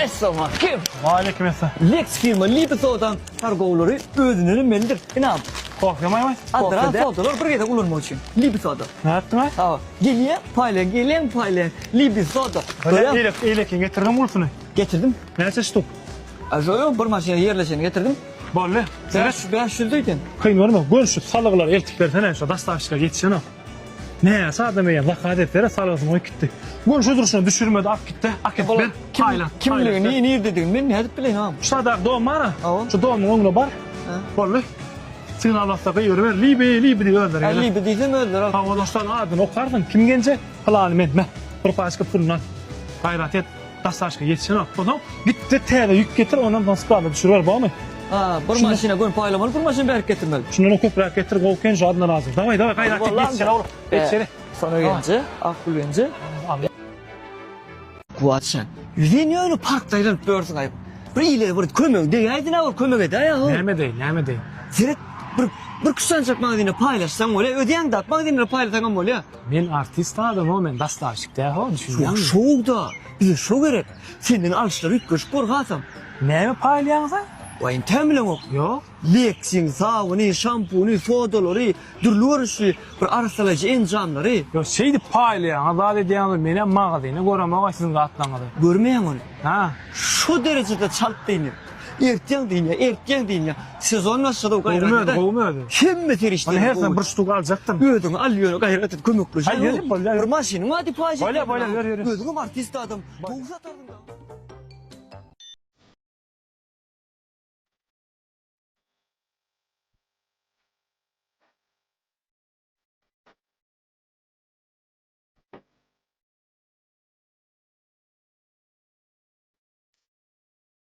Essalamu aleýkum. Wa aleýkum essalam. Lex firma Lipisodan targowlary özünden ömelidir. Ynam. Kofe maý maý. Adra sodalar bir gezek ulanmak üçin. Lipisoda. Nätdi maý? Hawa. Gelýä, paýlaň, gelýäň, paýlaň. Lipisoda. Görýäň? Eýlek, eýlekiň getirdiň ulsuny? Getirdim. Näçe ştuk? Ajoýo bir maşyna ýerleşeni getirdim. Boldy. Seret. Bäş ýüz diýdim. Kyn görme, gönşüp salyklary eltip bersene, şo daşdaşylara ýetişenok. Näçe adam eýýäm zakat etdere salgysyny goýup gitdi. Göni şu durşuna düşürmedi, alyp gitdi. Akyp ber. Taýland. Kimligini, nirdedigini men nädip bileýin agam? Şu sadaky dom bar-a. Şu domyň öňüne bar. Boldy. Signal basda gygyryber. Libi, libi diýip özleri geler. Libi diýsem özleri alyp. Hawa, dostlar, adyny okarsyň. Kim genje? Pylany men. Meh. Bir paçka puluny al. Gaýrat et. Daşdaşka ýetişen wagt bolsaň, git-de täze ýük getir, onam soň sklada düşüriber, bormy? A, bir maşyna göni paýlamaly, bir maşyn bärik getirmeli. Şundanam köpräk getir, gowy eken, jadyna razy. Dawaý, dawaý, gaýrat et, ýetiş şeýle, oglan, ýetiş şeýle. Sona gelinje, Akgül gelinje. Kuwat jan, ýüzin ýöne parkda aýlanyp ýörsiň aýyp. Bir ile bir kömegiň degäýdin-ä, bir kömek edäý aýyhow. Näme edeýin, näme edeýin? Seret, bir, bir küştdançak magazine paýlaşsaň bolýa, ödäň-de, magazine paýlasaňam bolýa. Men artist adamam men dastaşyk däl ho düşünýäňmi. Şo şowda bize şo gerek. Senden alşlar üýtgeşik bor hasam. Näme paýlaýaňyza? Waýym tämleňok. Ýok. Leksin, sabyny, şampuny, sodalary, dürli görnüşli bir arassalaýjy enjamlary. Ýok şeýdip paýlaýaňyz zat edýäňiz menem magazyny göremok-aý siziň zatlaryňyzy. Görmeýäň ony. Hä. Şo derejede çalt beýnim. Ertýän dynýa, ertýän dynýa. Sezon başlady gaýrat et. Gowy gowy özi. Hemme serişdeler. Meni her sen bir ştuk aljakdyň. Özüň al ýöne gaýrat et kömekleş. Aý ýöne bolýa. Bir maşynyň bar diýip waýz etýän. Bolýa bolýa ýör ýör. Özüňem artist adam. Gowy satardyň.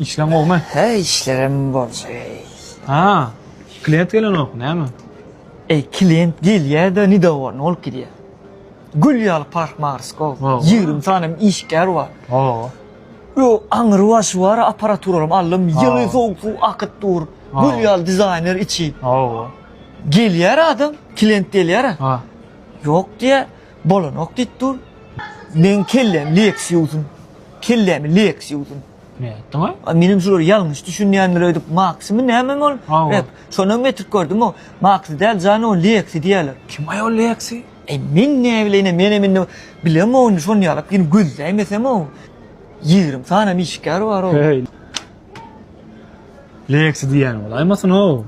Işleň gowmy? Hä, işlerim bolşy. Ha, klient gelenok, näme? Eý, klient gelýä-de, ni dowamy bolup gidýä. Gül ýaly parhmar skow. Ýigrimi sanem işgär bar. Ho. Yo, aňry waşy bar aparaturalarym aldym, ýyly sowuk suw akyp dur, gül ýaly dizaýner içi. Hawa. Gelýär adam, klient gelýär. Ha. Ýok diýýär, bolanok diýip dur. Meň kellem Lexus-um. Kellemi Lexus-um. Nätdiňä? A menem şulary ýalňyş düşünýändir öýdüp, Maxmy nämemi ol? Hawa. Şonam getirip gördüm o. Maxy däl jan o, Lexi diýýärler. Kim aý ol Lexi? Eý, men näbileýin-ä, menem indi bilemogyn, şony ýalyp ýene gözläýmesem-ow. Ýigrimi sanam işgär bar-ow. Heý. Lexi diýýän bolaýmasyn-ow?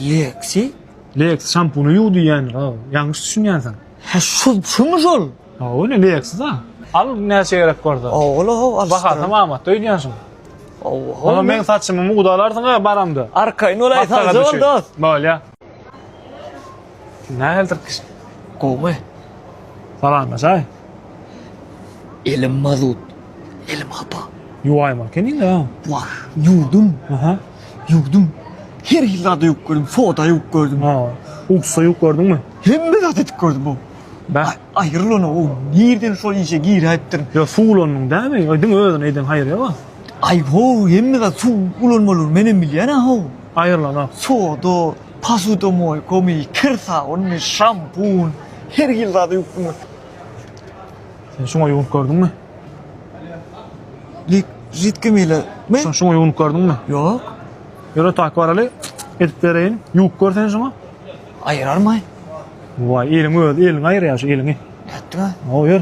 Lexi? Lexi şampuny ýuw diýýändir-ow. Ýalňyş düşünýänsiň. Hä, şu, şumy şol? Hawa, ine, Lexi-da. Al, näçä gerek bolsa. Hawa-hawa, alyşdyr. Bahasam amatda öýdýänsiň. Hawa-hawa. Olam meň saçymy mugdalarsyň-a baramda. Arkaýyn bolaý, sagja bol, dost. Bolýa. Nähilidir gyş gowy. Salamlaşaý. Elim mazut. Elim hapa. Ýuwaýmaly ekeniň-a. Wah, ýuwdum. Aha. Ýuwdum. Her hil zady ýuwup gördüm, soda ýuwup gördüm. Ha, uksa ýuwup gördüňmi? Hemme zat edip gördüm o. Bäh. Aýrylan o, nireden şol işe giräýipdirin. Ýa suw ulandyň dämi? Ýa diňe özüne eýdeň haýyr ýa-a? Aý, ho, hemme zat suw ulanmalydyr, menem bilýän-ä ho. Aýrylan o. Soda. Posudamoi gomy, kir sabunmy, şampun, her hil zady ýuwdumy? Sen şuňa ýuwunyp gördüňmi? Lik, židkimi ile mi? Şo şuňa ýuwunyp gördüňmi? Ýok. Ýöre tak baraly, edip bereýin. Ýuwup gör sen şuňa. Aýyrarmaý. Waý, eliň özi, eliňi aýyrýar şu eliňi. Nätdiňä? Hawa, ýör.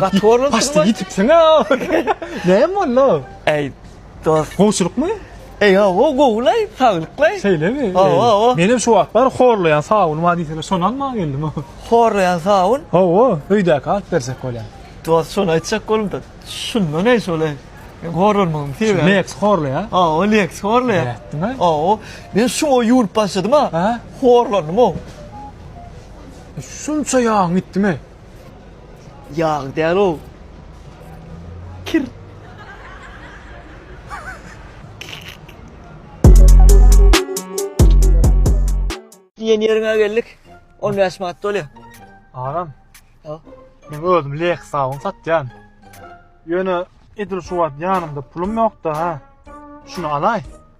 Gaty horlap Başda gitipsiň a. Näme boldy? Ey dost. Gowçulykmy? Ey o gowlaý, saglyklaý. Şeýlemi? Hawa, hawa. Men hem şu wagt bar horlaýan sabun bar diýseler, şony almaga geldim. Horlaýan sabun? Hawa, öýdäki alyp berjek bolýan. Dost, şony aýtjak bolumda. Şunda näme şolaý? Men horlanmagym sebäbi. Leks horlaýa. Hawa, Leks horlaýa. Nätdiňä? Hawa. Men şuňa ýuwulyp başladym-a. Horlandym-ow. Şunça ýagyň gitdimi? Ýag däl-ow. Kir. Diýen ýeriňe geldik. On bäş manat dolýar. Agam. Hä? Men özüm Lexus awun satýan. Ýöne edil şu wagt ýanymda pulum ýok-da, ha. Şuny alaý.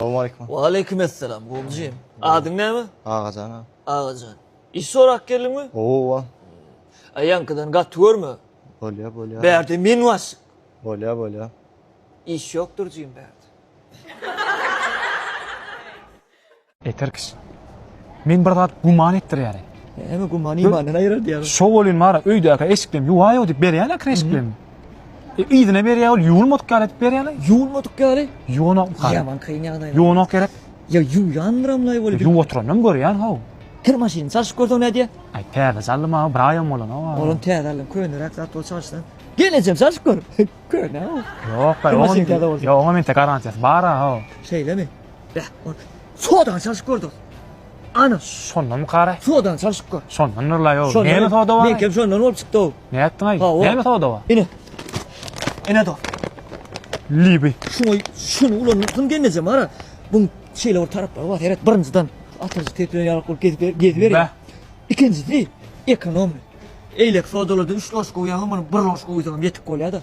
Salawmaleýkum. Waleýkim essalam, Gowumjym. Adyň näme? Agajan aga. Agajan. Iş sorap geldiňmi? Owa. A ýaňkydan gaty görme. Bolýar, bolýar. Bärde men waşyk. Bolýar, bolýar. Iş ýokdur jigim bärde. Eter kişi. Men bir zat güman etdirýärin. Näme gümany imandan aýyrar diýýärmi? Şo welin bar, öýdäki eşiklerim ýuwaýo diýip berýäň-ä kir eşiklerimi. E, yzyna berýär ol ýuwulmadyk ýaly edip berýär. Ýuwulmadyk ýaly? Ýuwanok hal. Ýaman kyn ýagdaý. Ýuwanok gerek. Ýa ýuwýandyram laý bolup. Ýuw oturanam görýän how. Kir maşyny çalşyp görseň nädýä? Aý täze çaldym ha, bir aýam bolanok. Olam täze aldyň, köneräk zat bol çalşyna. Gel ejem çalşyp gör. Köne how. Ýok, ýok, oňa men tek garantiýasy bar how. Şeýlemi? Beh, Sodany çalşyp gördüň. Ana. Şondanmy Karaý? Sodany çalşyp gör. Şondan Nurlaý ow. Näme soda bar? Meňkem şondan bolup çykdy ow. Ne etdiňaý? Näme soda bar? Ine. Ine do. Libi. Şuňa şuny ulandyň gelnejem ara. Bu şeýle bir taraplary bar. Seret birinjiden atyjy teplen ýarak bolup gezip gezip ber. Ikinjisi ekonom. Eýlek sodalardan 3 loş goýýan, muny 1 loş goýsaň ýetik bolýar-da.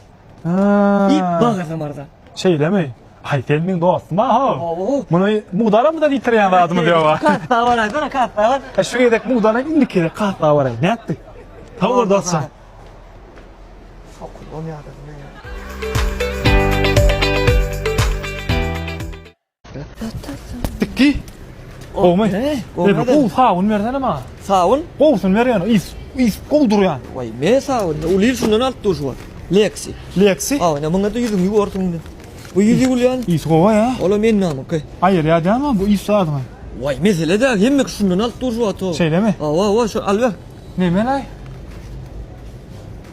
Diýip bagyrdy myrza. Şeýlemi? Aý, sen meň dostum-a-how! Muny mugdalamyzam ýitirýän zadymyz ýog-a. Kassa bar aýtsana, kassa bar. E, şu gezek mugdalam, indiki gezek kassa baraý. Nätdik? Sag bol, dostjan. Sokul bolýa-da bu näme? Dikki. Gowmy? He, gowmy? Gow sabun bersene maňa. Sabun? Gowsun ber ýöne, is, is gow durýan. Waý, me sabun, uly şundan alyp dur şu wagt. Lexi. Lexi? Aw, ine muňa da ýüzüňi ýuwarsyň indi. Bu ýüz ýuwulýan. Is gowa ýa. Ola men namyky. Aýyr ýa däme bu is zadyňy. Waý, mesele däl, hemme şundan alyp dur şu wagt. Şeýlemi? Aw, aw, aw, şu al ber. Neme laý?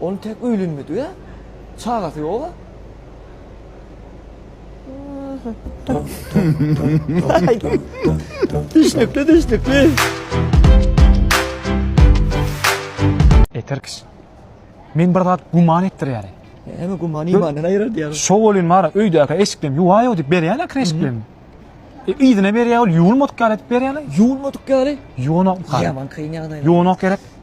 Ol tek öýlenmedige çagasy ýoga. Düşnükli düşnükli. Eý Tirkiş. Men bir zat guman etdirýärin. Näme guman imandan aýyrar diýýär. Şo bolyn bar, öýdäki eşiklerim ýuwaýo diýip berýäne kir eşiklerini. E, yzyna berýär ol ýuwulmadyk ýaly edip berýäne. Ýuwulmadyk ýaly? Ýuwanok. Ýaman kyn ýagdaý. Ýuwanok gerek.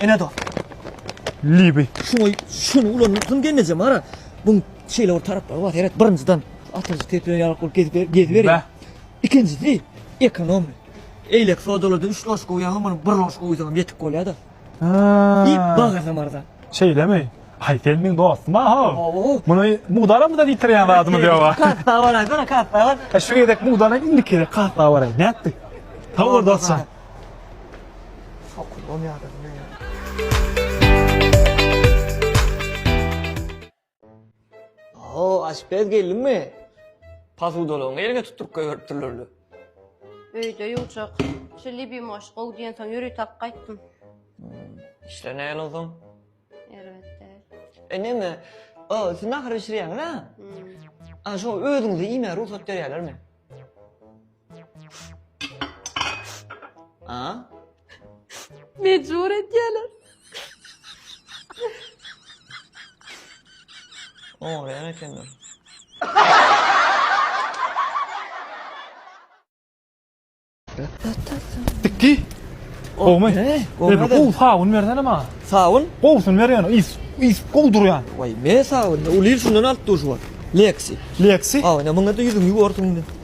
Ene dost. Libi. Şoý, şuny ulandyrsyn gelneje mara. Bu şeýle bir taraplary bar. Seret, birinjiden atyjy tepeden ýarak bolup gezip ber, gezip ber. Ikinjisi ekonom. Eýlek sodalarda 3 loş goýýaňam muny 1 loş goýsaňam ýetik bolýar-da. Ha. Ýek bagyrsam arza. Şeýlemi? Aý sen meň dostum aha. Muny mugdara mı da diýtirýän zadymy diýoga. Kassa baraýsana, kassa bar. Şu gezek mugdara indiki gezek kassa baraý. Nätdi? Sag bol dostjan. Oho, aşpez geldiňmi? Posudalaryňy eliňe tutduryp goýberipdirler-le. Öýde ýuwjak. Şu Libimoş gowy diýensoň ýöri talyp gaýtdym. Işler nähili onsoň? Erbet däl. E, neme, o, siz nahar bişirýäňiz-ä? A, şo özüňize iýmäge rugsat berýärlermi? A? Mecbur edýärler. Oňraýan ekenler. Bitdi. Gowmy? He, Gowy gowmy? gowy sabun bersene maňa. Sawun? Gowusyny ber ýöne, is, is gowy durýan. Vay, me sawun. Ulyl şundan alyp dur şu wagt. Lexi. Lexi. Aw, ene muňa da ýüzüňi ýuwarsyň indi.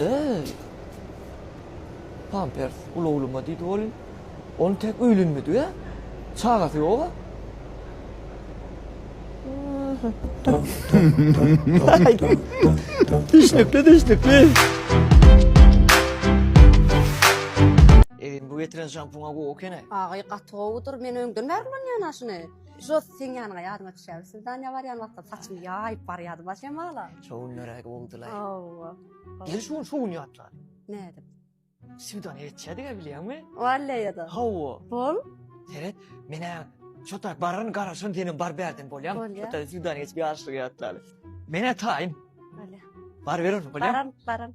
Eý! Pampers ulawluma diýdi welin, ony tek öýlenmedik-ä. Çagasy ýog-a. Düşnükli, düşnükli. Eý, bu getiren şampuna gowy eken-ä. Agay gaty gowydyr men öňden bäri ulanýan-a şuny. Jos sen ýanyňa ýadyma düşýär. Siz Daniýa barýan wagtda saçymy ýaýyp barýardy baş ýamala. Şo günleräk boldular. Hawa. Gel şu gün şu gün ýatlar. Nädip? Siwdan etçädik ya bilýärmi? Walleýada. Hawa. Bol. Seret, men ha şo tarap bararyn, garaşyryn, senem bar bärden bolýar. Bolýar. Şo tarap siwdan geçip ýaşlyk ýatlar. Men ha taýyn. Bolýar. Bar berin, bolýar. Baran, baran.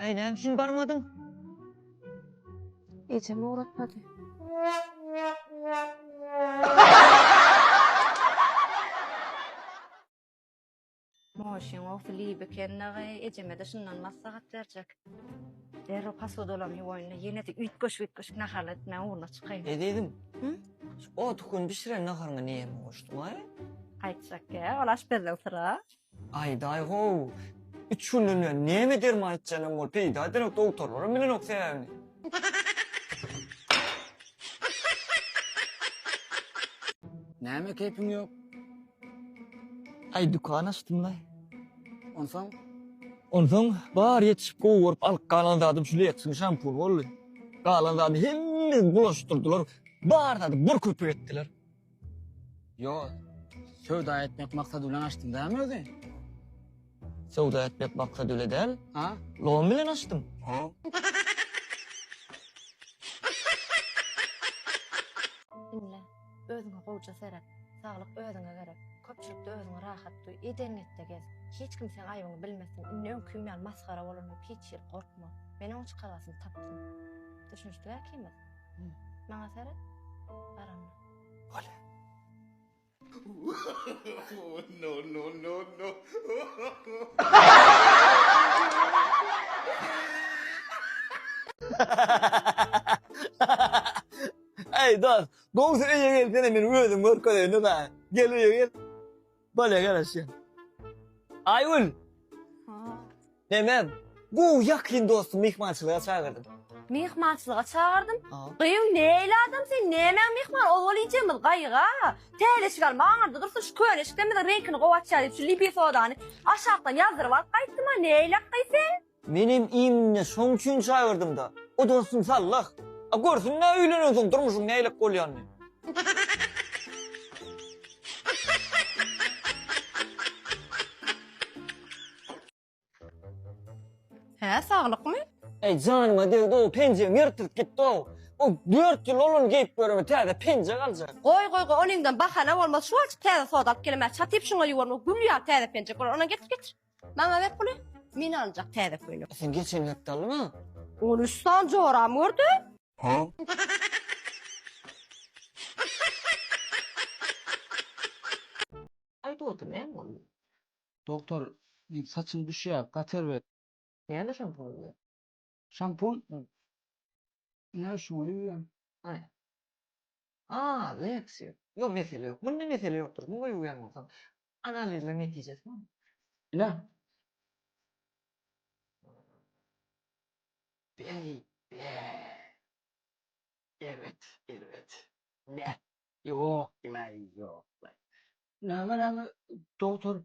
Äý näme üçin barmadyň? Ejem ugratmady. Moşyň owsy lib eken dagy, ejeme-de şundan maslahat berjek. Derrew posudalaryny ýuwaýyn-da, ýene-de üýtgeşik-üýtgeşik nahar etmäň ugruna çykaýyn. Ezizim, Hü? şu otykün bişiren naharyňa näme goşduň-aý? Aýtjak gäp, ol aşpezden syra. Aýdaý-how, üç günden bäri näme derman içýänem bolup peýda edenok, dogtarlaram bilenok sebäbini. Näme keýpiň ýok? Aý, dükan açdym-laý. Onsoň? Onsoň, bary ýetişip gowy görüp alyp galan zadym şu Lexyň şampuny boldy. Galan zadyny hemmesini bulaşdyrdylar, bar zady bir köpük etdiler. Ýo, söwda etmek maksady bilen açdym dämi özi? Söwda etmek maksady bile däl. Ha? Lom bilen açdym. Diňle, özüňe gowja seret. Saglyk özüňe gerek. Köpçülikde özüňi rahat duý. Edengetde gez. Hiç kim seň aýbyňy bilmesin. Indi öňküň ýaly masgara bolan ýok. Hiç ýeri gorkma. Men oň çykalgasyn tapdym. Düşünişdik äkimiz? Maňa seret. Bar onda. Bolýa. No no no no. Eý dost, gowusy öýe gelsene men özüm görkezeýin-dä saňa. Gel öýe gel. Bale gele sen. Aýgül. Memem. Bu ýakyn dostum myhmançylyga çagyrdym. Myhmançylyga çagyrdym. Gyýw neýle adam sen nämäň myhman ol ol ýejegimiz gaýyga. Täze eşik alma aňyrda dursun şu köne eşikden biziň reňkini gowy açýar diýip şu lipi sodany aşakdan ýazdyryp alyp gaýtdym a neýläk gyýw sen. Menem iýminde şoň üçin çaýyrdymda. O dostum sallah. A görsünle öýlenensoň durmuşyň nähilek bolýanyny. Hä saglykmy? Eý janyma degdi ow penjegim ýyrtylyp gitdi ow. O dört ýyl ol ony geýip göreme täze penjek aljak. Goý goý goý ony iňden bahana bolmaz şu wagtjyk täze soda alyp gelemer çatyp şuňa ýuwarma gül ýaly täze penjek bolar ondan getir getir. Maňa ber puly, men aljak täze köýnek. Sen geçen hepde aldyň-a? On üç sany joramy gördü. Aý dogry näme boldy? Dogtor, saçym düşýär, gater ber. Näme şam boldy? Şampun Ine şuňa ýuwýan. Aý. A, Lexio. Ýok, mesele ýok. Munda mesele ýokdur. Muňa ýuwýan bolsaň. Analizler netijesi bar. Ine. Beý, be. Erbet, erbet. Näh. Ýok, diňe ýok. Näme, näme, dogtor?